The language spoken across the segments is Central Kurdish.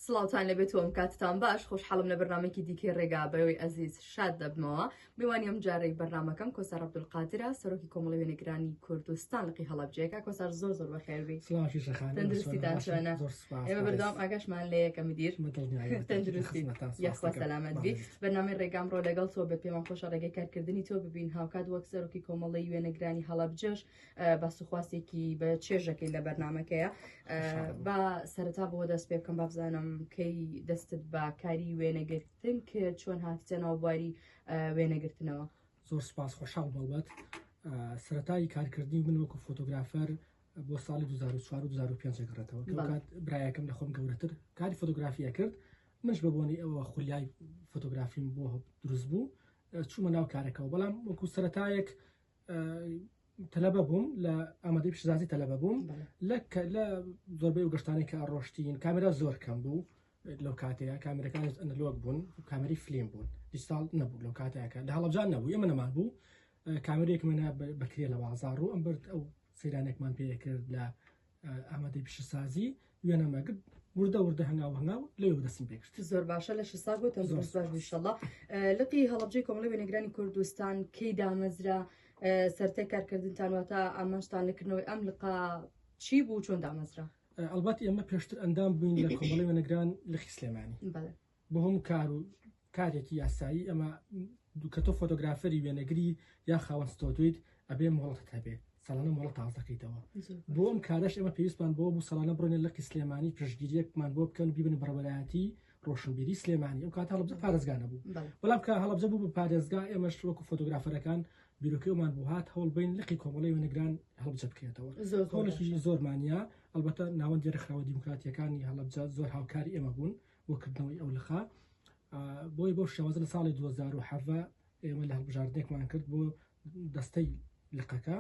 سڵاوتان لێ بێت وەم کاتتان باش خۆشحاڵم لە بەرنمەکی دیکەی ڕێگا بەوەی ئەزیز شاد دەبمەوە میوانی ئەم جارەی بەرنمەکەم کۆسە ڕەبدول قادرە سەرۆکی کۆمەڵی وێنەگرانی کوردستان لقی هەڵبجەیەەکە کۆسار زۆر زۆر بەخێربی تەندروستیتان شوێنە ئێمە بەردەوام ئاگاشمان لە یەکە مدیر تەندروستی یاخوا سەلامەت بی بەرنامی ڕێگام ڕۆ لەگەڵ تۆ بە پێمان خۆشە ڕێگەی کارکردنی تۆ ببین هاوکات وەک سەرۆکی کۆمەڵی وێنەگرانی هەڵبجەش باس و خواستێکی بە چێژەکەی لە بەرنمەکەیە با سەرتا بۆ دەست پێ بکەم بابزانم کەی دەستت بە کاری وێنەگرتن کرد چۆن هاتیتە ناو بواری وێنەگرتنەوە زۆر سپاس خۆشحاڵ بەڵبەت سەتایی کارکردنی من وەکو فۆتۆگرافەر بۆ ساڵی 2005 گەڕێتەوە کات برایەکەم لە خۆم گەورەتر کاری فۆتۆگرافیە کرد منش بە بۆنی ئەوە خولیای فۆتۆگرافیم بۆ دروست بوو چوومە ناو کارەکەەوە بەڵام وەکو سەتایەک تەلەبە بووم لە ئامادەی پیشزازی تەلەبە بووم لە لە زۆربەی و گەشتانی کە ڕۆشتین کامرا زۆر کەم بوو لەو کاتەیە کامرەکان ئەنەلۆک بوون کامری فلیم بوون دیساڵ نەبوو لەو کاتەکە لە هەڵبجان نەبوو ئێمە نەمان بوو کامرێک منە بەکرێ لە بازار و ئەم برد ئەو سیرانێکمان پێ کرد لە ئامادەی پیشەسازی وێنە مەگرد وردە وردە هەنگاو هەنگاو لە دەستم پێکرد زۆر باشە لە شسا بۆ تەندروست باش بشەڵا لقی هەڵبجەی کۆمەڵی وێنەگرانی کوردستان کەی دامەزرا سەرتەی کارکردنتان واتە ئامانشتان لەکردنەوەی ئەم لقا چی بوو چۆن دامەزرا ئەلبەت ئێمە پێشتر ئەندام بووین لە کۆمەڵی وێنەگران لە خیسلێمانی بهم کار و کارێکی یاسایی ئەمە دوو کەتۆ فۆتۆگرافەری وێنەگری یا خاوەن ستۆدویت ئەبێ مۆڵەت هەبێ سەڵانە مۆڵە تازەکەیتەوە بۆم کارش ئەمە پێویستمان بۆ بوو سەڵانە بڕێنە لەقی سلێمانی پشگیریەکمان بۆ بکەن بیبن بەڕەبەتی ڕۆشنبیری سلێمانی ئەو کات هەڵبجە پارێزگانە بوو بەڵام کە هەڵبجە بوو بە پارێزگا ئێمەش وەکو فۆتۆگرافەرەکان بیرۆکەمان بوو هات هەوڵ بین لقی کۆمەڵی وێنەگران هەڵبجە بکرێتەوە زۆرشی زۆرمانە ئەلبەتە ناوەندی ڕخراوە دیموکراتیەکانی هەڵبجە زۆر هاوکاری ئێمە بوون بۆ کردنەوەی ئەو لقە بۆی بۆ شێوازە لە ساڵی 2017 ئێمە لە هەڵبژاردنێکمان کرد بۆ دەستەی لقەکە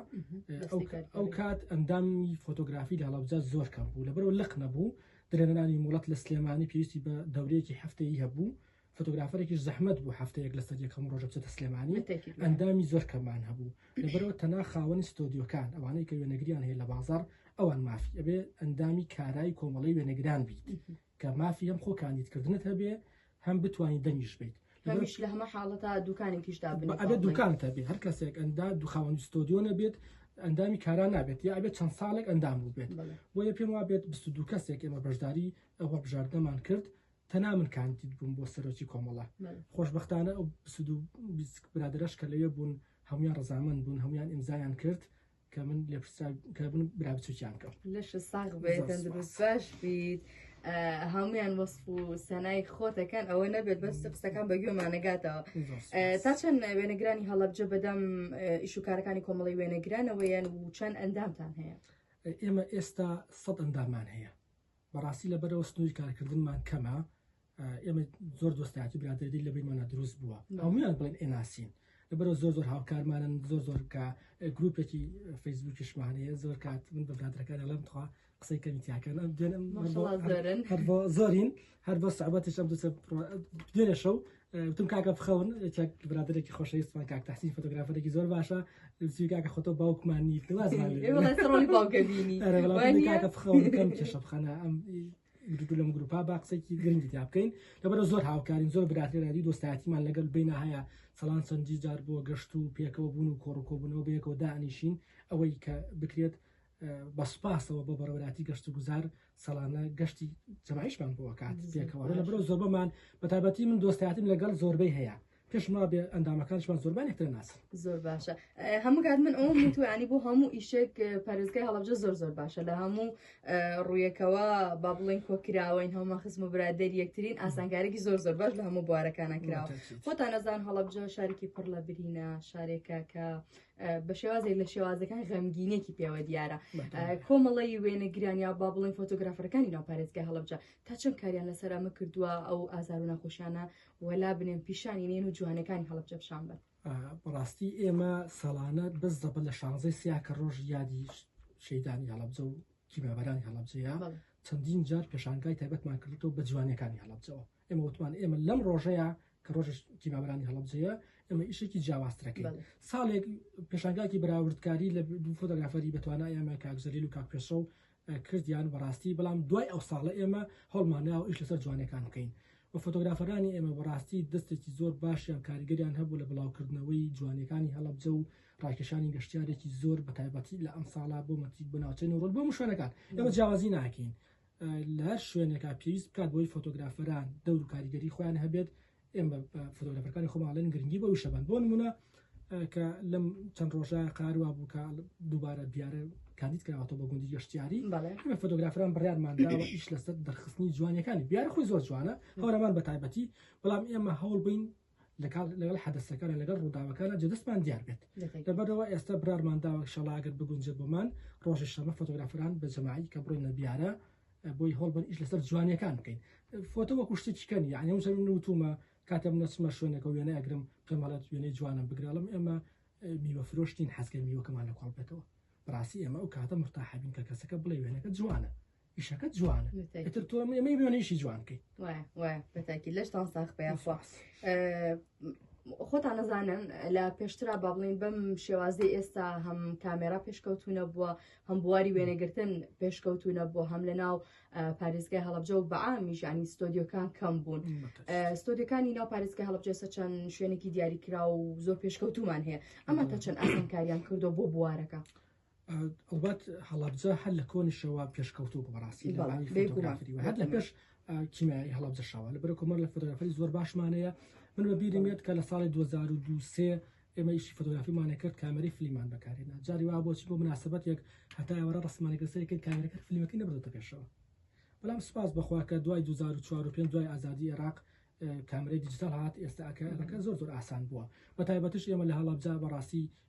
ئەو کات ئەندامی فۆتۆگرافی لە هەڵبجار زۆر کەم بوو لەبەرەوە لق نەبوو درێنانی مڵەت لە سلێمانی پێویستی بە دەورەیەکی هەفتەیە بوو فۆتۆگرافەرێکی زەحمت بوو هەفتەیەک لەسەر یەکەم ڕۆژە بچێتە سلێمانی ئەندامی زۆر کەمان هەبوو لەبەرەوە تەنا خاوەنی ستۆدیۆکان ئەوانەی کە وێنەگریان هەیە لە بازار ئەوان مافی ئەبێ ئەندامی کارای کۆمەڵی وێنەگران بیت کە مافی ئەم خۆ کاندید کردنت هەبێ هەم بتوانین دەنگیش بیت هەمیش لە هەمە حاڵەتا دوکانێکیشدا بن ئەبێ دوکانت هەبێ هەر کەسێک ئەندا دوخاوەن ستۆدیۆ نەبێت ئەندامی کاران نابێت یا ئەبێت چەند ساڵێک ئەندام بووبێت بۆیە پێم وابێت دو کەسێک ئێمە بەشداری ئەوە بژاردەمان کرد تەنا من کاندید بووم بۆ سەرۆکی کۆمەڵە خۆشببختانە ئەو برادرش کە لەوێ بوون هەمویان ڕزامن بوون هەمویان ئیمزایان کرد کە من لە پرسان کە من برا بچووکیان کەم لەش ساغ بێت زۆر تەندروست باش بیت ئە، هەمویان وەسف و سەنای خۆتەکەن ئەوە نەبێت بەس قسەکان بە گوێمانەگاتەوە زۆر سوپاس. ئە، تا چەند وێنەگرانی هەڵەبجە بەدەم ئە، ئیش و کارەکانی کۆمەڵی وێنەگرانەوەیان و چەند ئەندامتان هەیە ئێمە ئێستا سەد ئەندامان هەیە بەڕاستی لەبەرەوە سنووری کارکردنمان کەمە ئێمە زۆر دۆستایەتی برادێدی لە بینمانە دروست بووە هەمویان بڵێن ئێناسین لەبەرەوە زۆر زۆر هاوکارمانن زۆر زۆر کە گروپێکی فەیسبووکیشمانەیە زۆر کات من بە برادەکان ئەڵم تخوا قسەی کەمیتیاکەن ئەم دێنم هەر بۆ زۆرین هەر بۆ سەعبەتش ئەم دوسە دێنە شەو وتم کاکە بخەون چەک برادێکی خۆشەویستمان کاک تحسین فۆتۆگرافەرێکی زۆر باشە زوی کاکە خۆتۆ باوکمان نیت کاکە بخەون کەم کێشە بخەنە ئەم گرتو لەم گروپا با قسەکی گرنگی تا بکەین لەبەر زۆر هاوکارین زۆر براتێرادی دۆستایەتیمان لەگەل بینە هەیە سەڵان سەنجی جار بۆ گەشت و پێکەوە بوون و کۆڕکۆبوونەوە بەیەکەوە دانیشین ئەوەی کە بکرێت بە سوپاسەوە بۆ بەڕێوەبەراتی گەشتوگوزار ساڵانە گەشتی جەماعیشمان بۆ ئەکات پێکەوە لە بەرەو زۆربەمان بە تایبەتی من دۆستایەتیم لەگەڵ زۆربەی هەیە پێشما بێ ئەندامەکانشمان زۆربان یەکتر ناسن زۆر باشە هەموو کات من ئەوم میتوانی بۆ هەموو ئیشێک پارێزگای هەڵبجە زۆر زۆر باشە لە هەموو ڕویەکەوە با بڵێن کۆکراوەین هەموو خزم و برادێر یەکترین ئاسانکارێکی زۆر زۆر باش لە هەموو بوارەکانە کراوە خۆتان نەزان هەڵبجە شارێکی پڕ لە برینە شارێکە کە بە شێوازێک لە شێوازەکان غەمگینێکی پێوە دیارە کۆمەڵی وێنەگرانیا با بڵێن فۆتۆگرافەکانی ناو پارێزگای هەڵبجە تا چەند کاریان لەسەر ئەمە کردووە ئەو ئازار و ناخۆشیانە وەلا بنێن پیشانی نێن و جوانەکانی هەڵبجە پیشان بن بەڕاستی ئێمە ساڵانە بەس دەبە لە شانزەی سیاکە ڕۆژ یادی شەیدانی هەڵبجە و کیمابەرانی هەڵبجەیە چەندین جار پێشانگای تایبەتمان کردو بە جوانەکانی هەڵبجەوە ئێمە وتمان ئێمە لەم ڕۆژەیە کە ڕۆژ تیمابرانی هەڵبجەیە ئەمە ئیشێکی جیاوازترەکەن ساڵێک پێشانگاکی بەراوردکاری لە دوو فۆتۆگرافەری بەتوانە ئێمە کاکزەلیل و کاکپێشە و کردیان بەڕاستی بەڵام دوای ئەو ساڵە ئێمە هەڵمانە و ئیش لەسەر جوانەکان بکەین و فۆتۆگرافەرانی ئێمە بەڕاستی دەستێکی زۆر باشیان کاریگەریان هەبوو لە بڵاوکردنەوەی جوانەکانی هەڵبجە و ڕاکێشانی گەشتارێکی زۆر بە تایبەتی لە ئەم ساڵا بۆ مەتی بۆ ناوچەی نەوڕۆل بۆ مشوێنەکان ئەمە جیاوازی ناکەین لە هەر شوێنێکا پێویست بکات بۆی فۆتۆگرافەران دەور و کاریگەری خۆیان هەبێت ئێمە فۆتۆگرافەکانی خۆماڵێن گرنگی بۆ وشەبان بۆ نمونە کە لەم چەند ڕۆژە قاروا بوو کە دووبارە دیارە کاندید کراوەەوە بە گوندی گەشتیاری ئەمە فۆتۆگرافران بڕیارمانداوە ئیش لەسەر دەرخستنی جوانەکانی بیار خۆی زۆر جوانە هەورەمان بە تایبەتی بەڵام ئێمە هەوڵ بین لەکاڵ لەگەڵ حەدەسەکان لەگەڵ ڕووداوەکانە جدەستمان دیار بێت لەبەرەوە ئێستا برارمان داوە شەڵاگەر بگونجێت بۆمان ڕۆژی شەمە فۆتۆگرافران بە جەماعی کە بڕۆینە بیارە بۆی هەڵبەر ئیش لەسەر جوانیەکان بکەین فۆتۆ وەکو شتێکیکەن یعنی ئەو زەمین وتومە کاتێم نەچمە شوێنەکە وێنە ئەگرم پێمەڵێت وێنەی جوانم بگرڵم ئێمە میوە فرۆشتین حەزگەر میوەکەمان لە کۆڵ بێتەوە بڕاستی ئێمە ئەو کاتە مرتاحبین کە کەسەکە بڵێ وێنەکە جوانە ئیشەکەت جوانە ئیتر تۆ ئێمەی بێنیشی جوان بکەیت بەتاکی لەشتان ساخ پێیاخوا خۆتان نەزانن لە پێشترا با بڵین بەم شێوازی ئێستا هەم کامێرا پێشکەوتونە بووە هەم بواری وێنەگرتن پێشکەوتونە بۆ هەم لە ناو پارێزگای هەڵبجە و بەعامیشانی ستۆدیۆکان کەم بوون ستۆدیەکانی ناو پارێزگای هەڵبجێسە چەند شوێنێکی دیاریکرا و زۆر پێشکەوتومان هەیە ئەمە تا چەند ئاسانکاریان کردو بۆ بوارەکە. ئەڵبەت هەڵەبجە هەر لە کۆنیشەوە پێشکەوتوو بوو بەڕاستی لە بەڵام ڕاوی بێ گومان، فۆتۆگرافی و بێ هەر لە گومان. پێش ئا، کیمیایی هەڵەبجە شەوە لە بەرە کۆمەر لە فۆتۆگرافی زۆر باشمانەیە من بە بیرم یەت کە لە ساڵی 2002 سێ ئێمە ئیشی فۆتۆگرافیمانە کرد کامێرەی فلیمان بەکارهێنا جاری وا بۆچی بۆ مناسبەتێک هەتا ئێوارە ڕەسمانە گرسەی کرد کامێرەکە فلیمەکەی نەبردۆتە پێشەوە بەڵام سوپاس بەخوا کە دوای 2004 و پێنج دوای ئازادی عێراق ئە، کامێرەی دیجیتاڵ هات ئێستا ئەکە ئەمەکە زۆر زۆر ئاسان بووە بە تایبەتیش ئێمە لە هەڵەبجە بەڕاستی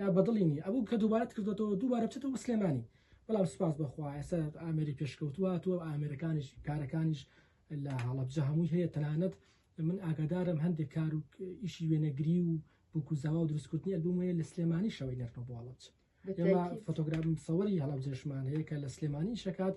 یا بەدڵی نی ئەبوو کە دووبارەت کردۆتەوە دووبارە بچێتە بۆ سلێمانی بەڵام سپاس بەخوا ئێستا ئامێری پێشکەوتووە هاتووە ئامێرەکانیش کارەکانیش لە هەڵەبجە هەمووی هەیە تەنانەت من ئاگادارم هەندێک کار و ئیشی وێنەگری و بووک و زاوا و دروستکردنی ئەلبوم هەیە لە سلێمانی شەوەی نەرمە بۆ هەڵەبجە ئێمە فۆتۆگرافم سەوەری هەڵەبجەشمان هەیە کە لە سلێمانی شکات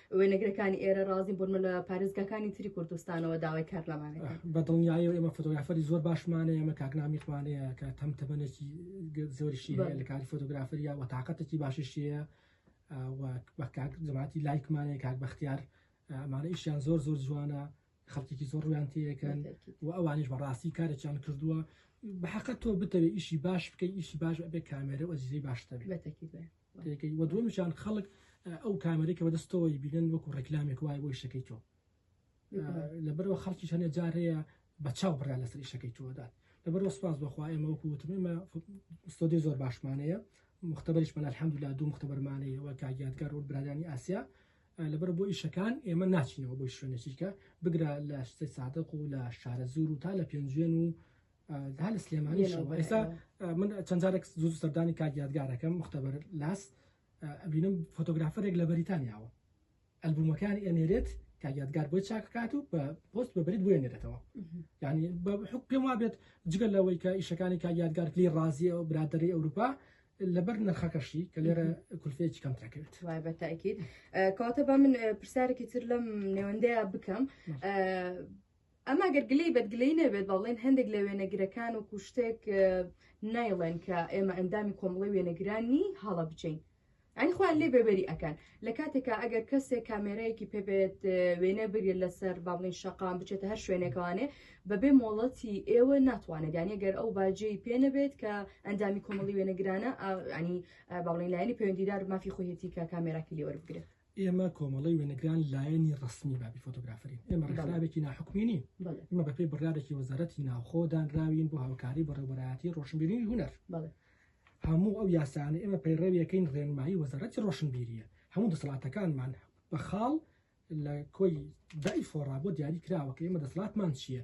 وێنەگرەکانی ئێرە ڕازین بۆنمە لە پارێزگاکانی تری کوردستانەوە داوای کار لەمانێت بە دڵنیایی و ئێمە فۆتۆگرافەری زۆر باشمانە ئێمە کاکنامیخمانەیە کە تەم تەبەنێکی زۆریشی لە کاری فۆتۆگرافری یاوە تااقەتێکی باشیشیە بە کاک جماتی لایکمانەیە کاک بەختیار ئەمانە ئیشیان زۆر زۆر جوانە خەڵکیی زۆر ڕویان تێەکەن و ئەوانش بەڕاستی کارێکیان کردووە بەحقە تۆ بتەوێت ئیشی باش بکەی ئیشی باش بێ کامێرە و ئەزیزی باشتە بێت. دەکەی وە دووەمیش یان خەڵک ئەو کامێرەی کە بەدەست تۆی بینن وەکو ڕێکلامێک وایە بۆ ئیشەکەی تۆ لەبەرەوە خەڵکیش هەنێ جار هەیە بە چاو بڕیان لەسەر ئیشەکەی تۆدات لەبەرەوە سپاس بەخوا ئێمە وەکو وتم ئێمە ستۆدیۆ زۆر باشمانەیە مختبەریشمان الحمدلله دوو مختبەرمانەیە وە کاگیادگار و برادانی ئاسیا لەبەر بۆ ئیشەکان ئێمە ناچینەوە بۆی شوێنەچیکە بگرە لە شتەی سادەق و لە شارە زور و تا لە پێنجوێن و هەر لە سلێمانی ئێستا من چەند جارێک زوو سەردانی کاک یادگارەکەم مختبەر لاس ئەبینم فۆتۆگرافەرێک لە بەریتانیاوە ئەلبومەکانی ئەنێرێت کاک یادگار بۆی چاککات و بە پۆست بە بریت بێنێتەوە ینی بە حک پێم وابێت جگە لەوەی کە ئیشەکانی کاک یادگار پلی ڕازیە و برادری ئەوروپا لەبەر نرخەکەشی کە لێرە کولفێکی کەم ترکرد وای بە تاکیت کەواتە بە من پرسیارێکی تر لەم نێوەندەیە بکەم ئەمە گەر گلەی بەد گلەی نەبێت با بڵێن هەندێک لە وێنەگرەکان وەکو شتێک نایڵێن کە ئێمە ئەندامی کۆمەڵی وێنەگرانی هەڵە بچین ئەنی خۆیان لێ بێبەری ئەکەن لە کاتێکا ئەگەر کەسێک کامێرایەکی پێبێت وێنە بگرێت لەسەر با بڵین شەقام بچێتە هەر شوێنێکوانێ بەبێ مۆڵەتی ئێوە ناتوانێت یانە گەر ئەو باجێی پێ نەبێت کە ئەندامی کۆمەڵی وێنەگرانە ئەنی باڵین لایەنی پەیوەندیدار مافی خۆیەتی کە کامێراکی لێوەربگرێت ئێمە کۆمەڵی وێنەگران لایەنی ڕسمی بابی فۆتۆگرافرین ئێمە ڕێکخراوێکی ناحکومینی ئمە بەپی بڕارێکی وەزارەتی ناوخۆ دانراوین بۆ هاوکاری بەڕێوبەرایەتی ڕۆشنبیری هوەر هەموو ئەو یاسانە ئێمە پەیڕەویەکەین ڕێنمایی وەزارەتی ڕۆشنبیریە هەموو دەسەڵاتەکانمان بە خاڵ لە کۆی دای فۆڕا بۆ دیاری کراوە کە ئێمە دەسڵاتمان چییە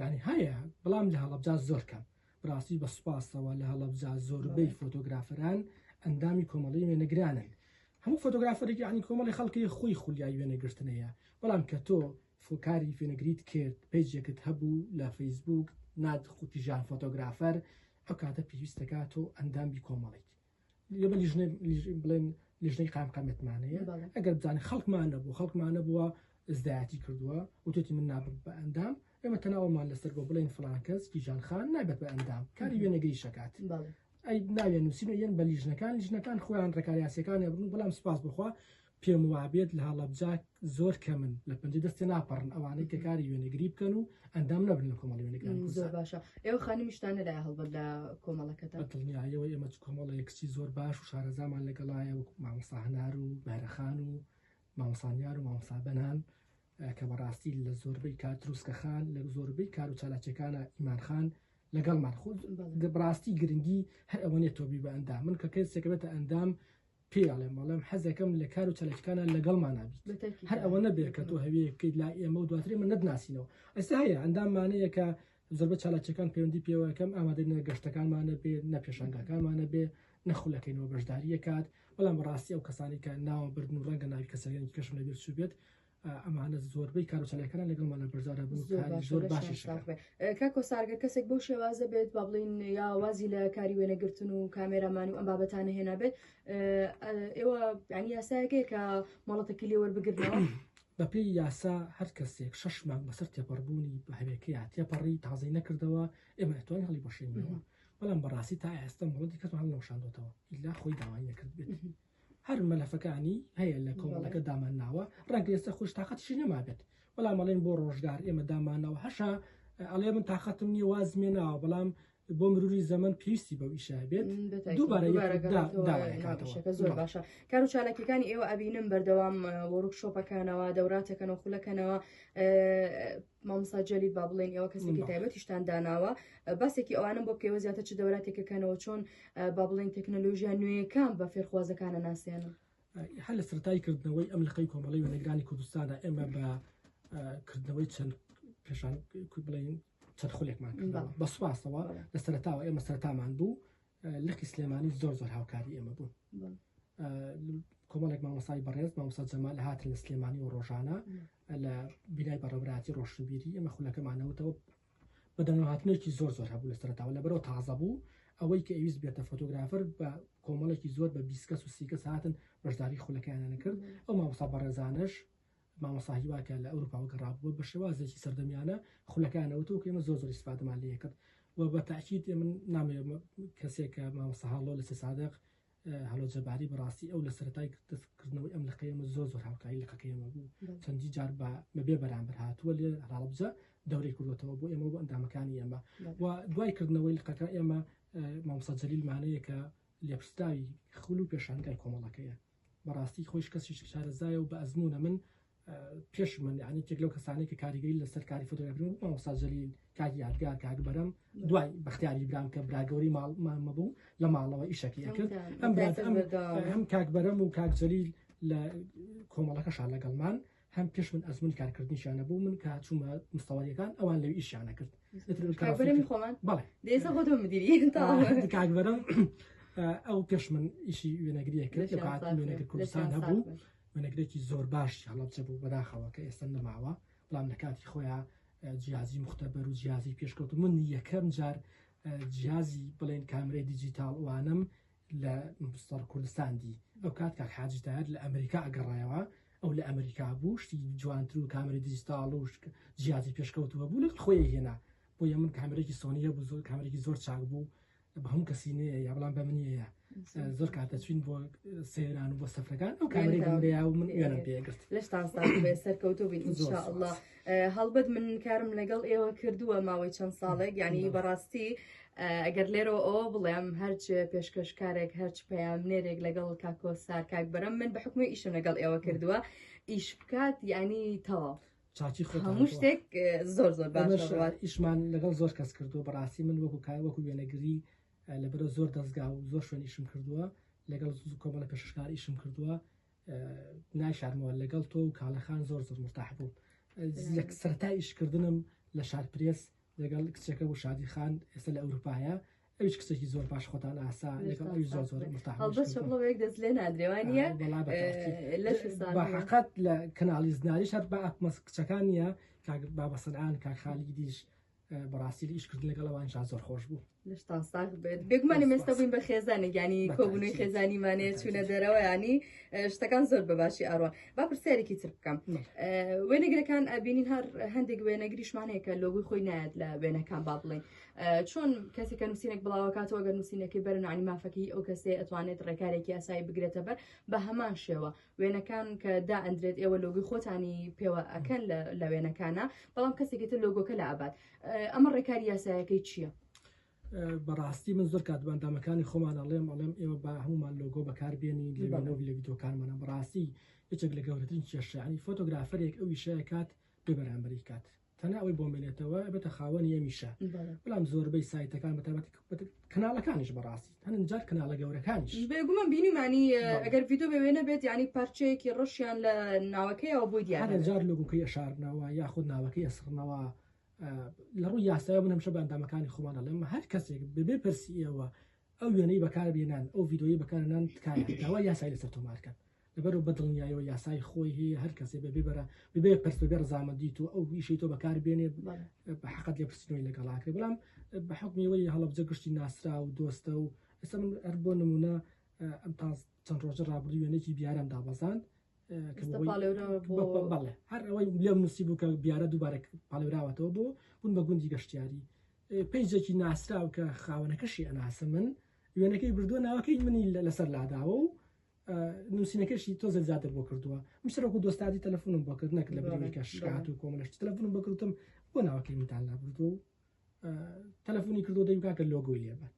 یانی هەیە بەڵام لە هەڵەبجە زۆر کەم بڕاستی بە سوپاسەوە لە هەڵەبجە زۆربەی فۆتۆگرافەران ئەندامی کۆمەڵی وێنەگرانن هەموو فۆتۆگرافەرێکی عنی کۆمەڵی خەڵکی خۆی خولیای وێنەگرتنەیە بەڵام کە تۆ فۆکاری فێنەگریت کرد پێجێکت هەبوو لە فەیسبوک ناد قوتیژان فۆتۆگرافەر ئەو کاتە پێویستەکە تۆ ئەندامی کۆمەڵیت لێبە لیژنە لیژ بڵێن لیژنەی قامقامەتمانەیە بەڵێ. ئەگەر بزانین خەڵکمان نەبوو خەڵکمانە بووە زدایەتی کردووە وتێتی من نابم بە ئەندام ئێمە تەناوەمان لەسەر بۆ بڵێن فلان کەس کیژان خان نابێت بە ئەندام کاری وێنەگری شکات بەڵێ. ئەی ناوێن نووسینە یەن بە لیژنەکان لیژنەکان خۆیان ڕێکاریاسیەکان هەبوو بەڵام سپاس بخوا پێم وابێت لە هەڵەبجە زۆر کەمن لە پەنجە دەستێ ناپەڕن ئەوانەی کە کاری وێنەگری بکەن و ئەندام نەبن لە کۆمەڵی وێنەگران زۆر باشە ئێوە خانمیشتان لە هەڵبەت لە کۆمەڵەکەتە دڵنیایەوە ئێمە چ کۆمەڵە یەکچی زۆر باش و شارەزامان لەگەڵایە وەکو مامۆستا هەنار و بەرەخان و مامۆسانیار و مامۆستا بەنان کە بەڕاستی لە زۆربەی کار دروستکەخان لە زۆربەی کار و چالاکیەکانە ئیمانخان لەگەڵمان خود بڕاستی گرنگی هەر ئەوەنێ تۆبی بە ئەندام من کە کەسێکەوێتە ئەندام پێی ئەڵێم بەڵێم حەزەکەم لە کار و چەلەکانە لەگەڵمانە هەر ئەوە نەبێت کە تۆ هەوێ بکەیت لا ئێمە و دواتری من نەتناسینەوە ئەستا هەیە ئەنداممانەیە کە زۆربە چالاکیەکان پەیوەندی پێوەکەم ئامادە نە گەشتەکانمانە بێ نە پێشنگاکانمانە بێ نەخولەکەینەوە بەشداریە کات بەڵام بەڕاستی ئەو کەسانی کە ناوە بردن و ڕەنگە ناوی کەسەکانی کەشم لەبێت سوبێت ئەمانە زۆربەی کارۆچەلەکەیان لەگەڵ مەلا بەرزادا بوو زۆر باشش کاکۆ سارگە کەسێک بۆ شێوازە بێت با بڵین یا وازی لە کاری وێنەگرتن و کامێرامان و ئەم بابەتانە هێنا بێت ئێوە ینی یاسایەکەی کە مەڵەتەکی لێوە بگرنەوە بەپی یاسا هەر کەسێک شش مانگ بەسەر تێپەڕبوونی بە هەرێکەیە تێپەڕی تازی نەکردەوە ئێمە توانین هەڵی بۆشێنەوە بەڵام بەڕاستی تا ئێستا مڵەتی کەسمان لەوشاندۆتەوە ئیلا خۆی داوای نەکرد بێت هەر مەلەفەکانی هەیە لە کۆمەڵەکە دامانناوە ڕەنگە ئێستا خوش تااقەتشی نەمابێت بەڵام ئەڵێن بۆ ڕۆژگار ئێمە دامانەوە هەشە ئەڵێ من تااقەتم نیە وازمێ ناوە بەڵام بۆ مروری زەمن پێویستی بە ئیشە بێت زۆر باشە کار و چالاکیەکانی ئێوە ئەبینم بەردەوام وەرک شۆپەکانەوە دەوراتەکەنەوە خولەکەنەوە مامۆستا جەلیل با بڵێن ئێوە کەسێکی تایبەتیشتان داناوە باسێکی ئەوانم بۆ بکەوە زیاتر چ دەوراتێکەکەنەوە چۆن با بڵێن تەکنەلۆژیا نوێیەکان بە فێرخوازەکانە ناسێنن هەر لە سەرای کردنەوەی ئەم لەقەی کۆمەڵی وەنەگرانی کوردستانە ئێمە بە کردنەوەی چەند پێشان بڵێن چەند خولێکمان بە سوپاسەوە لە سەرتاوە ئێمە سەرتامان بوو لقی سلێمانی زۆر زۆر هاوکاری ئێمە بوون کۆمەڵێک مامۆسای بەڕێز مامۆسا جەمال هاتن لە سلێمانی و ڕۆژانە لە بینای بەڕێبراتی ڕۆشنبیری ئێمە خولەکەمانەوتەوە بەدەنگە هاتنێکی زۆر زۆر هەبوو لە سەرتاوە لە بەرەوە تازە بوو ئەوەی کە ئەویست بێتە فۆتۆگرافەر بە کۆمەڵێکی زۆر بە بیسکەس و سیکەس هاتن بەشداری خولەکەیانە کرد ئەو مامۆسا بەڕێزانش مامۆستا هیوا کە لە ئەوروپاوە گەڕابووە بە شێوازێکی سەردەمیانە خولەکانە وتەوە کە ئێمە زۆر زۆر ئیسفادەمان لێ کرد و بە تاکید من نامەوێت کەسێک کە مامۆستا هەڵۆ لە سێ سادق هەڵۆ جەباری بەڕاستی ئەو لە سەرەتای دەستکردنەوەی ئەم لەقەیەمە زۆر زۆر هاوکاری لەقەکەیەمە بوو چەندی جار بە بەبێ بەرامبەر هاتووە لێ هەڵبجە دەورەی کردوەتەوە بۆ ئێمە بۆ ئەندامەکانی ئێمە و دوای کردنەوەی لقەکە ئێمە مامۆستا جەلیلمانەیە کە لێپرسراوی خول و پێشانگای کۆمەڵەکەیە بەڕاستی خۆیش کەسی شارەزایە و بە ئەزموونە من پێش من یعنی تێک لەو کەسانی کە کاریگەری لەسەر کاری فۆتۆگرافی مامۆستا جەلیل کاک یادگار کاک بەرەم دوای بەختیاری برام کە براگەوری ماڵمە بوو لە ماڵەوە ئیشەکەی کرد ئەم برات ئەم کاک بەرەم و کاک جەلیل لە کۆمەڵەکەشان لەگەڵمان هەم پێش من ئەزمونی کارکردنیشیان نەبوو من کە چوومە مستەوەریەکان ئەوان لەوی ئیشیان نەکرد کاکبەرەمی خۆمان بەڵێ دێسە خۆ تۆ مدیری کاکبەرم ئەو پێش من ئیشی وێنەگریە کرد لە کات وێنەگر کوردستان هەبوو وێنەگرێکی زۆر باش هەڵەبچە بوو بەداخەوە کە ئێستا نەماوە بەڵام لە کاتی خۆیان جیازی مختبەر و جیازی پێشکەوت من یەکەم جار جیازی بڵێن کامرەی دیجیتال وانم لە مستەر کوردستان دی ئەو کات کاک حاجی تاهیر لە ئەمریکا ئەگەڕایەوە ئەو لە ئەمریکا بوو شتی جوانتر و کامری دیجیتاڵ و جیاتی پێشکەوتووە بوو لەگەڵ خۆی هێنا بۆ یە من کامرێکی سۆنیە بوو زۆر کامرێکی زۆر چاک بوو بە هەموو کەسی نەیە یا بەڵام بە منیە زۆر کاتە چوین بۆ سەیران و بۆ سەفرەکان ئەو کامرێکی لەیا و من وێنم پێگرت لەش تاسەر کەوتو بین ان شاء الله هەڵبەت من کارم لەگەڵ ئێوە کردووە ماوەی چەند ساڵێک یعنی بەڕاستی ئەگەر لێرەوە ئەوە بڵێم هەرچ پێشکەشکارێک هەرچ پەیامنێرێک لەگەڵ کاکۆ سار کاک بەرەم من بە حکومی ئیشم لەگەڵ ئێوە کردووە ئیش بکات یعنی تەواف. چاچی هەموو شتێک زۆر زۆر باشڕات ئیشمان لەگەڵ زۆر کەس کردو بەڕاستی من وەکو کار وەکو وێنەگری لەبەرە زۆر دەستگا و زۆر شوێنیشم کردووە لەگەڵ کۆمەڵە پێشکار ئیشم کردووە نایشارمەوە لەگەڵ تۆ و کاڵەخان زۆر زۆر مرتاح بووم لە سەرتا ئیشکردنم لە شار پرێس لەگەڵ کچەکە و شادی خان ئێستا لە ئەوروپایە ئەوش کچێکی زۆر باش خۆتان ئاسا لەگەڵ ئەوی زۆر زۆر مرتاح بڵێک دەست لێ نادرێوانە بەقەت لە کەناڵی زناریش هەر بە ئەکمەس کچەکان نیە کاک بابەسەران کاک خالیدیش بەڕاستی ئیش کردن لەگەڵ ئەوان شا زۆر خۆش بوو لەشتان ساغ بێت بێگومانی مێستا بووین بە خێزانە گیانی کۆبوونەوەی خێزانیمانێ چوونە دەرەوەیانی شتەکان زۆر بە باشی ئاڕوان با پرسیارێکی تر بکەم وێنەگرەکان ئەبینین هەر هەندێک وێنەگریشمانەیەکە لۆگوی خۆی نایەت لە وێنەکان با بڵێن چۆن کەسێکە نووسینێک بڵاوکاتەوە گەر نووسینەکەی بەرنانی مافەکەی ئەو کەسێ ئەتوانێت ڕێکارێکی ئاسایی بگرێتە بەر بە هەمان شێوە وێنەکان کە دا ئەندرێت ئێوە لۆگوی خۆتانی پێوە ئەکەن لە وێنەکانە بەڵام کەسێکی تر لۆگۆکە لە ئابات ئەمە ڕێکاری یاسایەکەی چییە؟ بەڕاستی من زۆر کات بەندامەکانی خۆمان ئەڵێم ئەڵێم ئێوە با هەمومان لۆگۆ بەکاربیێنی لەبانەوە لە یددیوکانمانە بەڕاستی یەکێک لە گەورەترین کێشەیانی فۆتۆگرافەرێک ئەو ویشەیە کات بێ بەرامبەری کات تەنها ئەوەی بۆ مێنێتەوە بێتە خاوەنی ئەمیشە بەڵام زۆربەی سایتەکان بەتابەت کەناڵەکانیش بەڕاستی هەنن جار کەناڵە گەورەکانیش بێگومە بینیمانی ئەگەر ویددیو بەوێنە بێت ینی پارچەیەکی ڕەشیان لە ناوەکەیەوە بۆی دیارە جار لوگوکەی ئەشارنەوە یاخود ناوەکەی ئەسڕنەوە لە ڕووی یاسای من هەمشە بەندامەکانی خۆمانە لەم هەر کەسێک ببێ پرسیەوە ئەو وێنەی بەکار بێنان ئەو ویددیوی بەکارنان تکایە داوا یاسای لەسەر تۆمارکەن لەبەرئەوە بە دڵنیایەوە یاسای خۆی هەیە هەر کەسێ بەبێ بەرە ببێ پرس بەبێ ڕزامەندی تۆ ئەو ویشەی تۆ بەکار بێنێ بە حقت لێ پرسنەوەی لەگەڵاکرێ بەڵام بە حکمیەوەی هەڵەبجە گشتی ناسرا و دۆستە و ئێستا من هەر بۆ نمونە ئەم تا چەند ڕۆژە ڕابردوو وێنێکی بیارم دابەزاند هەر ئەوەی لێم نووسی بوو کە بیارە دووبارە پاڵێراوەتەوە بۆ بوون بە گوندی گەشتیاری پێیجێکی ناسراو کە خاوەنەکەشی ئەناسە من وێنەکەی بردووە ناوەکەی منی لەسەر لاداوە و نووسینەکەشی تۆزێک زیاتر بۆ کردووە من سەرۆکو دۆستادی تەلەفۆنم بۆ کرد نەکرد لە بەرامبەرکە شکات و کۆمەلەش تەلەفۆنم بۆ کردم بۆ ناوەکەمیتان لابردو و تەلەفۆنی کردو دەیم کاکە لۆگۆی لێبات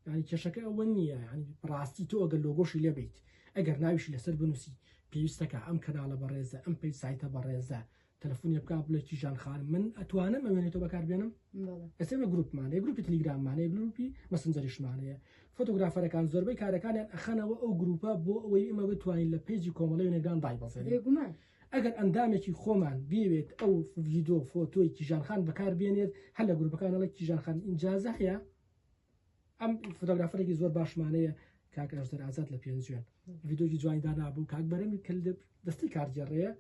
ینی کێشەکە ئەوە نییە ینی ڕاستی تۆ ئەگەر لۆگۆشی لێبیت ئەگەر ناویشی لەسەر بنووسی پێویستەکە ئەم کەناڵە بەڕێزە ئەم پێی سایتە بەڕێزە تەلەفونێ بکا بڵێ کیژان خانم من ئەتوانم ئەوێنێ تۆ بەکار بێنم ئەسێ بە گروپمانەیە گروپی تلیگراممانەیە گروپی مەسنجەریشمانەیە فۆتۆگرافەرەکان زۆربەی کارەکانیان ئەخەنەوە ئەو گروپە بۆ ئەوەی ئمە بتوانین لە پێجی کۆمەڵی نێگران دای بەزێ ئەگەر ئەندامێکی خۆمان بێوێت ئەو ڤیدۆ فۆتۆی کیژانخان بەکار بێنێت هەر لە گروپەکانەڵە کیژانخان ئینجازە هەیە ئەم فۆتۆگرافەرێکی زۆر باشمانەیە کاک ئەژدەر ئازاد لە پێنجوێن ڤیدۆکی جوانی دانابوو کاک بەرەمی کە دەستی کارگێڕەیە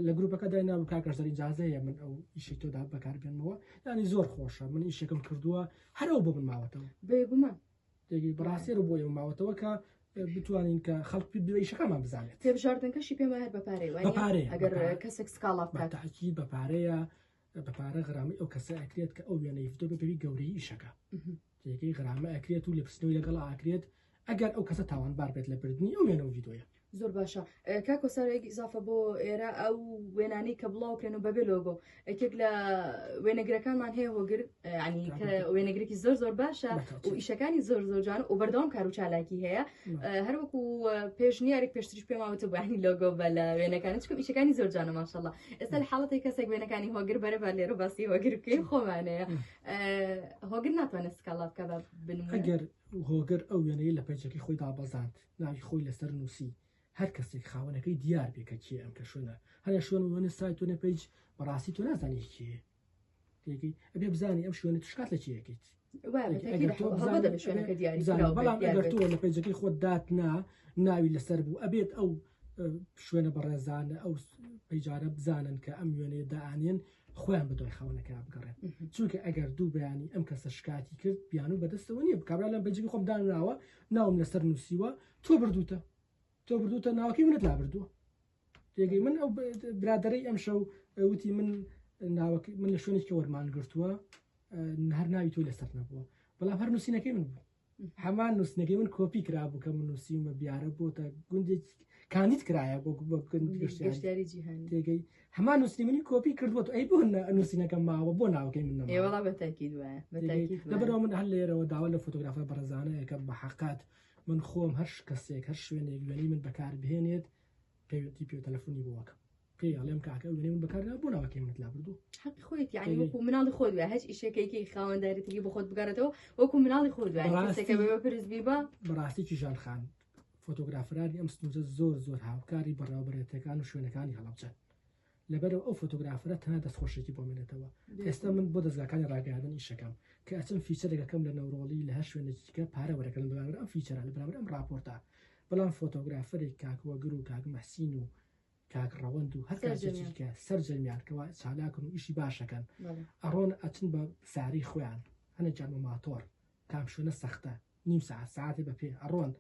لە گروپەکە دای نابوو کاک ئەژدەر ئیجازە هەیە من ئەو ئیشی تۆدا بەکاربێنمەوە یانی زۆر خۆشە من ئیشەکەم کردووە هەرەوە بۆ من ماوەتەوە بێگومە دەگی بڕاستی رو بۆ ئێوە ماوەتەوە کە بتوانین کە خەڵک دوێیشەکەمان بزانێت تێبژاردنەکەشی پێمە هەر بەپارەی وای پارێ ئەگەر کەسێک سکاڵا بکات تاکی بەپارەیە بە پارە غرامەی ئەو کەسە ئەکرێت کە ئەو وێنەی فتۆ بەبێوی گەورەی ئیشەکە جێگەی غرامە ئەکرێت و لەپرسنەوەی لەگەڵ ئاکرێت ئەگەر ئەو کەسە تاوانبار بێت لە بردننی ئەو وێنە و ڤیدۆیە زۆر باشە کاکۆ سارێک ئیزافە بۆ ئێرە ئەو وێنانی کە بڵاوکرێن و بەبێ لۆگۆ یەکێک لە وێنەگرەکانمان هەیە هۆگر ینی کە وێنەگرێکی زۆر زۆر باشە و ئیشەکانی زۆر زۆرجان و بەردەوام کار و چالاکی هەیە هەروەکو پێشنیارێک پێشتریش پێماوەتە بانی لۆگۆ بە لە وێنەکان چکم ئیشەکانی زۆر جانە ماشەڵە ئێستا لە حاڵەتی کەسێک وێنەکانی هۆگر بەرە بە لێرە باسی هۆگر بکەین خۆمانەیە هۆگر ناتوانێت سکاڵا بکە بە بنگەر هۆگر ئەو وێنەیە لە پەیجەکەی خۆی دابەزاند ناوی خۆی لەسەر نووسی هەر کەسێک خاوەنەکەی دیار بێکە کێ ئەم کە شوێنە هەر شوێن وێنە سایت و نەپەیج بەڕاستی تۆ نازانانی کێ تێگەی ئەبێ بزانانی ئەم شوێنە شکات لە چیەکەیت بەڵام ئەگەر تۆ لە پێجەکەی خۆت دات نا ناوی لەسەر بوو ئەبێت ئەو شوێنە بەڕێزانە ئەو پەیجارە بزانن کە ئەم وێنێ دانێن خۆیان بە دوای خاونەکە بگەڕێن چونکە ئەگەر دوو بەیانی ئەم کەسە شکاتی کرد بیان و بەدەستەوە نییە بکبرا لەم بەجگی خۆم دانراوە ناوم لەسەر نووسیوە تۆ بردوتە تۆ بردوتە ناوەکەی منت لا بردووە پێگەی من ئەو برادەرەی ئەم شەو وتی من ناوەک من لە شوێنێکی وەرمان گرتووە هەر ناوی تۆ لەسەر نەبووە بەڵام هەر نووسینەکەی من بوو هەمان نووسنەکەی من کۆپی کرا بوو کە من نووسیمە بیارە بۆ تا گوندێک کانیت کرایە بۆ گەشتاری جیهان تێگەی هەمان نووسنی منی کۆپی کردووە ئەی بۆ نووسینەکە ماوە بۆ ناوەکەی من ئێوەڵا بە تاکیید وایە لەبەرەوە من هەر لێرەوە داوا لە فۆتۆگرافە بەڕزانەیە کە بە حقات من خۆم هەر کەسێک هەر شوێنێک وێنەی من بەکار بهێنێت پەیوەندی پێ تەلەفۆنی بۆ وەکەم پێی ئەڵێم کاکە ئەو وێنەی من بەکارنا بۆ ناوەکەی منت لا بردو حەقی خۆیت یعنی وەکو مناڵی خۆت وێ هەچ ئیشەکەیکی خاوەندارێتیی بۆ خۆت بگەڕێتەوە وەکو مناڵی خۆت وێ یعنی بەڕاستی- کەسێکە بەبێ پرس بی بە بەڕاستیی ژان خان فۆتۆگرافرانی ئەم سنوورە زۆر زۆر هاوکاری بەڕێوەبەرێتەکان و شوێنەکانی هەڵەبجەن لەبەرئەوە ئەو فۆتۆگرافەرە تەنها دەستخۆشێکی بۆ مێنێتەوە ئێستا من بۆ دەزگاکانی ڕاگەیاندن ئیشەکەم کە ئەچم فیچەرێک ئەکەم لە نەورۆڵی لە هەر شوێنێکی دیکە پارە وەرەگرم لە بەرامبەر ئەم فیچەرە لە بەرامبەر ئەم ڕاپۆرتە بەڵام فۆتۆگرافەرێک کاک وەگر و کاک مەحسین و کاک ڕەوەند و هەر کاسێکی سەرجەمیان. دیکە سەرجەمیان کەوا چالاکن و ئیشی باشەکەن بەڵێ. ئەڕۆن ئەچن بە ساری خۆیان هەنێکیان بە ماتۆڕ کام شوێنە سەختە؟ نیو سەعات سەعاتێ بە پێ ئەڕۆن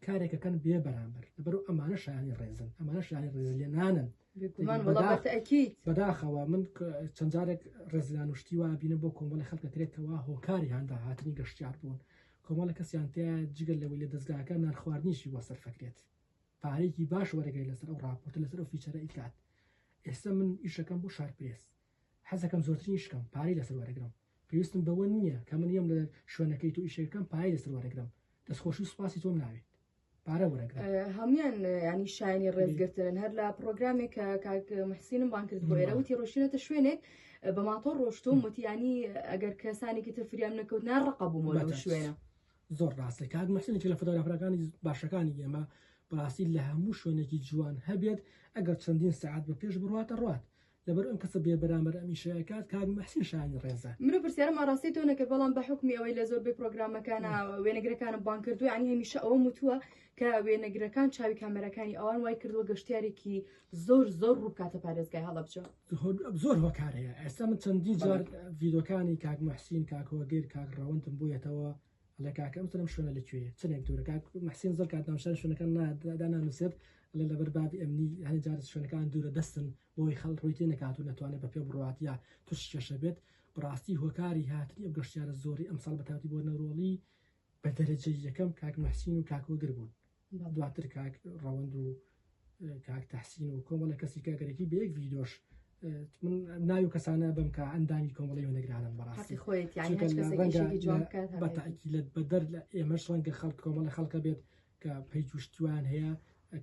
کارێکەکەن بێ بەرامبەر لەبەرو ئەمانە شایانی ڕێزن ئەمانە شایانی ڕێزلێنانن بێگومان وەڵا بەداخ- بەتە ئەکید بەداخەوە من ک- چەند جارێک ڕێزلان و شتی وا بینم بۆ کۆمەڵی خەڵکە کرێت کەوا هۆکاری هاندا هاتنی گەشتیار بوون کۆمەڵە کەسیان تیا جگە لەوەی لە دەزگاکە نان خواردنیشی بۆ سەرفە کرێت پارەیەکی باش وەرەگەی لەسەر ئەو ڕاپۆرتە لەسەر ئەو فیچەرە ئیکات ئێستا من ئیشەکەم بۆ شار پرێس حەزەکەم زۆرترین ئیش بکەم پارەی لەسەر وەرەگرم پێویستم بەوە نیە کە من یەم لە شوێنەکەی تۆ ئیشەکەم پایەی لەسەر وەرەگرم دەستخۆشی سوپاسی تۆم ناوێت پارە وەرەگرم هەموان ینی شایانی ڕێزگرتنن هەر لە پرۆگرامێک کە کاک محسینم بان کرد بۆ ئێرە وتی ڕۆشتێتە شوێنێک بە ماتۆ ڕۆشتوم وتیانی ئەگەر کەسانێکی تر فریام نەکەوت نا ڕقە بوومەوە لەو شوێنە زۆر ڕاستە کاک محسنێکی لە فۆتۆگرافەکانی باشەکانی ئێمە بەڕاستی لە هەموو شوێنێکی جوان هەبێت ئەگەر چەندین سعات بە پێش بڕاتە ڕات لەبەر ئەم کەسە بێ بەرامبەر ئەم ئیشە ئەکات کاک موحسین شایانی ڕێزە. من ئەو پرسیارەم ئاڕاستەی تۆ نەکرد بەڵام بە حوکمی ئەوەی لە زۆربەی پرۆگرامەکانا وێنەگرەکانم بانگ کردووە یانی هەمیشە ئەوەم وتووە کە وێنەگرەکان چاوی کامێراکانی ئەوان وای کردووە گەشتیارێکی زۆر زۆر ڕوو بکاتە پارێزگای هەڵەبجە زۆر هۆکار هەیە ئێستا من چەندین جار ڤیدۆکانی کاک موحسین کاک هۆگر کاک ڕەوەندم بوویەتەوە ئەڵێ کاکە ئەم سەرم شوێنە لە کوێیە چەندێک دوورە کاک محسین زۆر کات ناونشان شوێنەکان دانانووسێت ئەڵێ لەبەر بابی ئەمنی هەنێ جار شوێنەکان دوورە دەستن بۆی خەڵ ڕووی تێ نەکات و نەتوانێت بە پێ بڕوات یا توش کێشە بێت بڕاستی هۆکاری هاتنی ئەو گەشتیارە زۆری ئەمساڵ بەتاتی بۆ نەرۆڵی بە دەرەجەی یەکەم کاک محسین و کاکۆگر بوون دواتر کاک ڕەوەند و کاک تحسین و کۆمەڵە کەسی کاگەرێکی بە یەک ڤیدۆش من ناوی و کەسانە بم کە ئەندامی کۆمەڵی وەنەگرانم بەڕاستی خۆیت بەتاکی لە بەدەر لە ئێمەش ڕەنگە خەڵک کۆمەڵە خەڵکە بێت کە پێی توشتیوان هەیە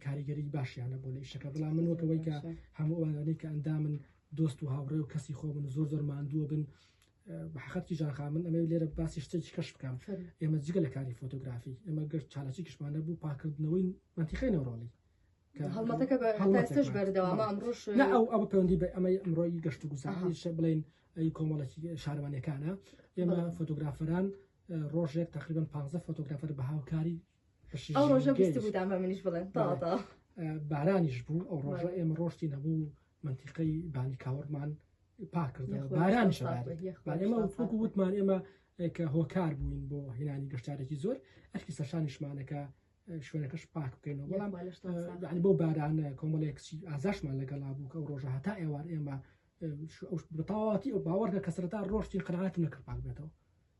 کاریگەری باشیانە بۆ لە شەکە بڵام من وەکەوەی کە هەمووانەی کە ئەندا من دۆست و هاوڕێ و کەسی خۆ من زۆر زۆر ماندووە بن بەحەقەت کیژان خان من ئەمەوێت لێرە باسی شتێکی کەش بکەم ئێمە جگە لە کاری فۆتۆگرافی ئێمە گەر چالاکی کشمانە بوو پاکردنەوەی منتیقی نەوڕۆڵی هەڵمەتەکە بە ئێستاش بەردەوامە ئەمڕۆش لا ئەو ئەو پەیوەندی بە ئەمەی ئەمڕۆی گەشت و گوزاری شە بڵێن ئەی کۆمەڵێکی شارەوانەکانە ئێمە فۆتۆگرافەران ڕۆژێک تقریبان 15 فۆتۆگرافەر بە هاوکاری ئەو ڕۆژە بیست بودان بە منیش بڵێن تاوا تاوا بارانیش بوو ئەو ڕۆژە ئێمە ڕۆشتی نەبوو منتیقەی بانی کاوەڕمان پاکردەوە باران شەبارێمە وەکو وتمان ئێمە کە هۆکار بووین بۆ هێنانی گەشتارێکی زۆر ئەرکی سەرشانیشمانەکە شوێنەکەش پاک بکەینەوە بەڵام بۆ بارانە کۆمەڵێک ئازاشمان لەگەڵا بوو کە ئەو ڕۆژە هەتا ئێوار ئێمە بەتەواتی ئەو باوەڕکە کەسرەتا ڕۆشتی قەنعات نەکرد پاک بێتەوە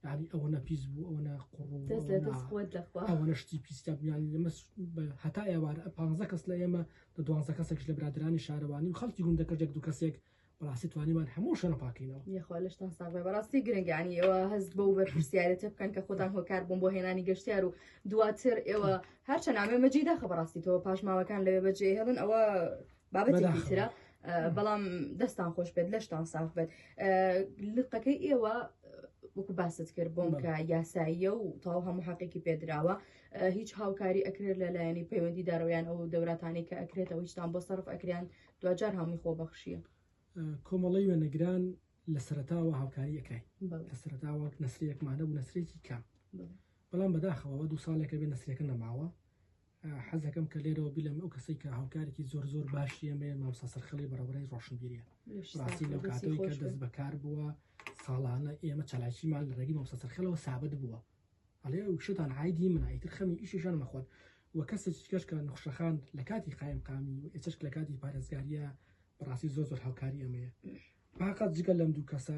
یانی ئەوەنە پیس بوو ئەوەنە قوڕ و دەست لە ئەوەنە دەست خۆت لەخوا ئەوەنە شتی پیس تێک بوو یانی لەمە س- بە- هەتا ئێوارە ئە پانزە کەس لە ئێمە لە دوانزە کەسێکش لە برادەرانی شارەوانی و خەڵکی گوندەکەش یەک دوو کەسێک بەڕاستی توانیمان هەموو شوێنە پاک کەینەوە یەخوا لەشتان ساغ بێ بەڕاستی گرنگە یانی ئێوە هەست بەو بەرپرسیارێتە بکەن کە خۆتان هۆکار بوون بۆ هێنانی گەشتیار و دواتر ئێوە هەرچەند ئامێ مەجیداخە بەڕاستی تەوە پاشماوەکان لەوێ بەجێ هێڵن ئەوە بابەتێکی ترە بەڵام دەستان خۆش بێت لەشتان ساف بێت لقەکەی ئێوە وەکو باست کرد بۆم کە یاساییە و تاو هەموو حقێکی پێدراوە هیچ هاوکاری ئەکرێت لە لایەنی پەیوەندی دارەوەیان ئەو دەوراتانی کە ئەکرێتەوە هیچتان بۆ سەرف ئەکریان دوجار هەمووی خۆ بەخشیە کۆمەڵی وێنەگران لە سەرتاوە هاوکاری ئەکرای لە سەرتاوەک نسرەکمانە بوو نسرێکی کام بەڵام بەداخەوە دو ساڵێکە بێ نسرەکە نەماوە حەزەکەم کە لێرەوە بیلێم ئەو کەسەی کە هاوکارێکی زۆر زۆر باشی ئێمە مامۆستا سەرخەڵی بەڕێوەبەرەی ڕۆشنبیریە ڕاستی لەو کاتەوەی کە دەست بەکار بووە ساڵانە ئێمە چالاکیمان لە ڕێگی مامۆستا سەرخەلەوە سابت بووە ئەڵێ شتان عیدی من ئیتر خەمی ئیشیشان مەخۆن و کەسێکی کەش کە نەخشەخان لە کاتی قایم قامی و ئێچەشک لە کاتی پارێزگاریە بەڕاستی زۆر زۆر هاوکاری ئەمەیە باقات جگە لەم دوو کەسە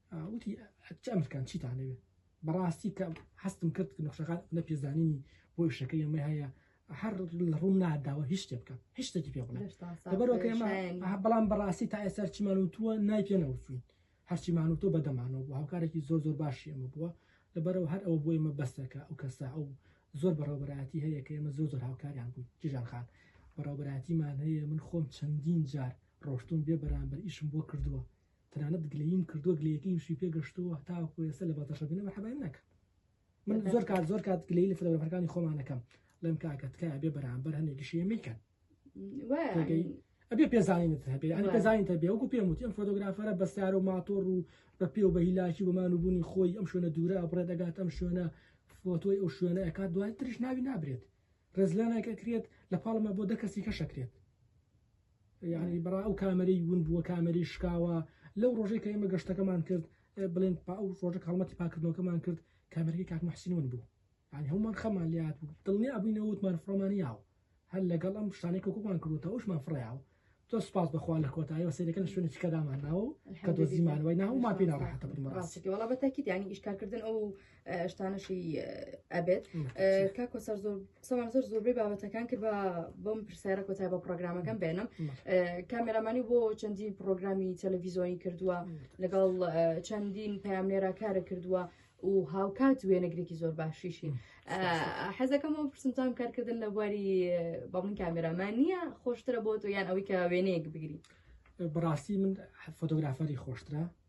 وتی چ ئەمرکان چیتان لەوێ بەڕاستی کە هەستم کرد نەخشەکان نە پێزانینی بۆ شەکە ئێمە هەیە هەر لە ڕوون ناداوە هیچ شتێ بکە هیچ شتێکی پێ بڵێ بەرۆکە ئێمە بەڵام بەڕاستی تا ئێستا چیمان وتووە نای پێ نەوتوین هەرچیمان وتۆ بەدەمانەوە بۆ هاوکارێکی زۆر زۆر باشی ئەمە بووە لەبەرەوە هەر ئەوە بۆ ئێمە بەسەکە ئەو کەسا ئەو زۆر بەڕێوبەرایەتی هەیە کە ئێمە زۆر زۆر هاوکاریان بوو جیژان خان بەڕێوبەراتیمان هەیە من خۆم چەندین جار ڕۆشتون بێ بەرامبەر ئیشم بۆ کردووە تەنانەت گلەییم کردووە گلەیەکەیمشی پێ گەشتووە تاوەکو ئێستا لە بەڵتەشە بینم مەرحەبایم ناکەن من زۆر کات زۆر کات گلەی لە فلەبەرەکانی خۆمانەکەم لەم کاکە تکایە بێ بەرامبەر هەندێکی شێ میکەن ئەبێ پێزانینت هەبێ ئەنی پێزانین تەبێ وەکو پێم وتی ئەم فۆتۆگرافەرە بەسیار و ماتۆڕ و بە پێ و بە هیلاکی بەمان و بوونی خۆی ئەم شوێنە دوورە بڕێ دەگات ئەم شوێنە فۆتۆی ئەو شوێنە ئەکات دوای تریش ناوی نابرێت ڕێزلانایکە کرێت لە پاڵمە بۆ دە کەسی کەشەکرێت یانی برا ئەو کامەرەی ون بووە کامەری شکاوە لەو ڕۆژەی کە ئێمە گەشتەکەمان کرد بڵێن پا ئەو ڕۆژە کاڵمەتی پاکردنەوەکەمان کرد کامەرەی کاک محسین ون بوو یان هەمومان خەمان لات بوو دڵنی ئەبووینەوە وتمان فڕۆمان یاوە هەر لەگەڵ ئەم شتانەی کۆکۆمان کردوتە ئەوشمان فڕیاوە تۆ سپاس بەخوا لە کۆتایەوە سەیرەکەن شوێنە چکەدامان ناوە کە دۆزیمانەوەی ناومان پێ ناڕەحەتە بن ڕاستی وڵا بەتەکی دیانی ئیشکارکردن ئەو شتانەشی ئەبێت کا کۆسەر زۆر سەوان زۆر زۆربەی بابەتەکان کرد بە بۆم پرسیارە کۆتای بە پرۆگرامەکەم بێنم کامێرامانی بۆ چەندین پرۆگرامی تەلەڤیزۆنی کردووە لەگەڵ چەندین پامێرا کارە کردووە و هاوکات وێنەگرێکی زۆر باشیشی حەزەکەم بۆ پرسمتان کارکردن لە بواری بەڵین کامێرامان نییە خۆشترە بۆ تۆ یان ئەوەی کە وێنەیەک بگری بەڕاستی من فۆتۆگرافەری خۆشترە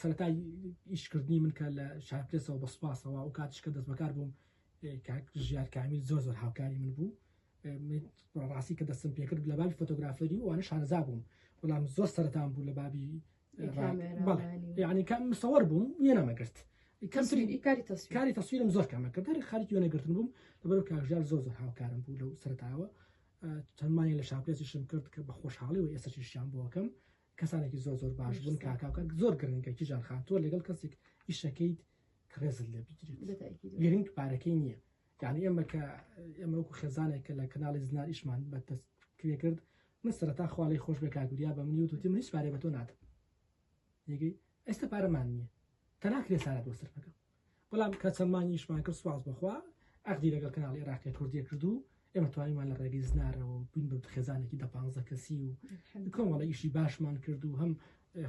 سەرەتای ئیشکردنی من کە لە شارپرسەوە بە سوپاسەوە ئەو کاتش کە دەست بەکار بووم ژیار کامیل زۆر زۆر هاوکاری من بوو ڕاستی کە دەستم پێکرد لە بابی فۆتۆگرافەری وانە شارەزا بووم بەڵام زۆر سەرەتان بوو لە بابی یعنی کام مسەوەەر بووم وێنەمەگرت کاری تەسویرم زۆر کامە کە دەر خاریکی وێنەگرتن بووم لەبەر کاژار زۆر زۆر هاوکارم بوو لەو سەرتاوە چەندمانی لە شاپێسیشم کرد کە بە خۆشحاڵی و ئێستا شیشیان بۆکەم کەسانێکی زۆر زۆر باش بوون کاکاکە زۆر گرنگە کیژان خان تۆ لەگەڵ کەسێک ئیشەکەیت ڕێزت لێ بگیرێت گرنگ پارەکەی نییە یعنی ئێمە کە ئێمە وەکو خێزانێک کە لە کەناڵی زنار ئیشمان بە دەست کرێ کرد من سەرتا خوالی خۆش بێ کاگوریا بە منی وتوتی منیش پارێ بە تۆ نادم یگەی ئێستا پارەمان نییە تەناکرێ سارەت بۆ سەر بەکەم بەڵام کە چەند مانگی ئیشمان کرد سوپاس بۆ خوا عەقدی لەگەڵ کەناڵی عێراقیە کوردیە کرد و ئێمە توانیمان لە ڕێگەی زنارەوە بووین بە خێزانێکی دە پانزە کەسی و کۆمەڵە ئیشی باشمان کرد و هەم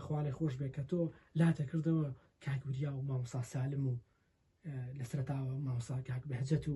خوالێ خۆش بێ کە تۆ لاتە کردەوە کاکوریا و مامۆسا سالم و لە سەرتاوە مامۆسا کاک بەهجەت و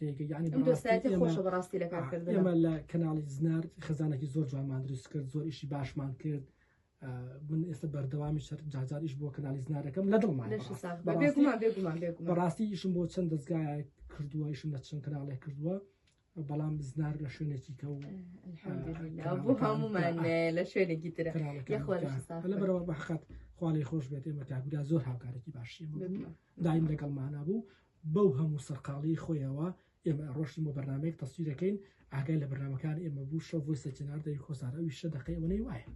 ئەم دۆستایەتی خۆشە بەڕاستی لە کارکردن ئێمە لە کەناڵی زنار خەزانێکی زۆر جوانمان دروست کرد زۆر ئیشی باشمان کرد من ئێستا بەردەوامی شەر جاجاریش بۆ کەنالی زنارەکەم لە دڵمان بەڕاستی ئیشم بۆ چەند دەستگای کردووە ئیشم لە چەند کەناڵێک کردووە بەڵام بزنار لە شوێنێکی کە و بۆ هەمومان لە شوێنێکی ترە لە بەرەوە بەحقات خوالی خۆش بێت ئێمە تاگودا زۆر هاوکارێکی باشی دایم لەگەڵمانا بوو بەو هەموو سەرقاڵیی خۆیەوە ئێمە ئەڕۆشتین بۆ بەرنامەیەک تەسویر ئەکەین ئاگای لە بەرنامەکانی ئێمە بوو شەو ڤۆیسە جنار دەوی خۆسار ئەویش شە دەقەی ئەوەنەی وایە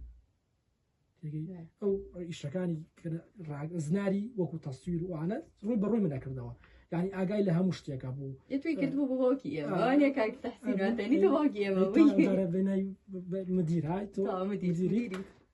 تێگەی ئەو ئیشەکانی زناری وەکو تەسویر وانە ڕووی بە ڕووی منەکردەوە یعنی ئاگای لە هەموو شتێکە بوو توی کرد بوو بۆکی مدیرای تۆ مدیری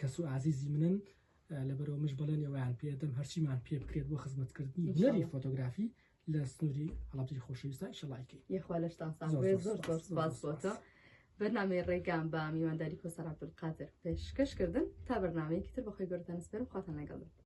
کەس و ئازیزی منن لەبەرەوە مش بەڵێنی ئەویان پێدەم هەرچیمان پێ بکرێت بۆ خزمەتکردنی هونەری فۆتۆگرافی لە سنووری هەڵبجی خۆشەویستە شڵایکی یخوا لەشتان ساز زۆر زۆر سپاس بۆتە بەرنامەی ڕێگام بە میوانداری کۆسەر عبدولقادر پێشکەشکردن تا بەرنمەیەکی تر بەخۆی گەورتان سپێرم خواتان لەگەڵ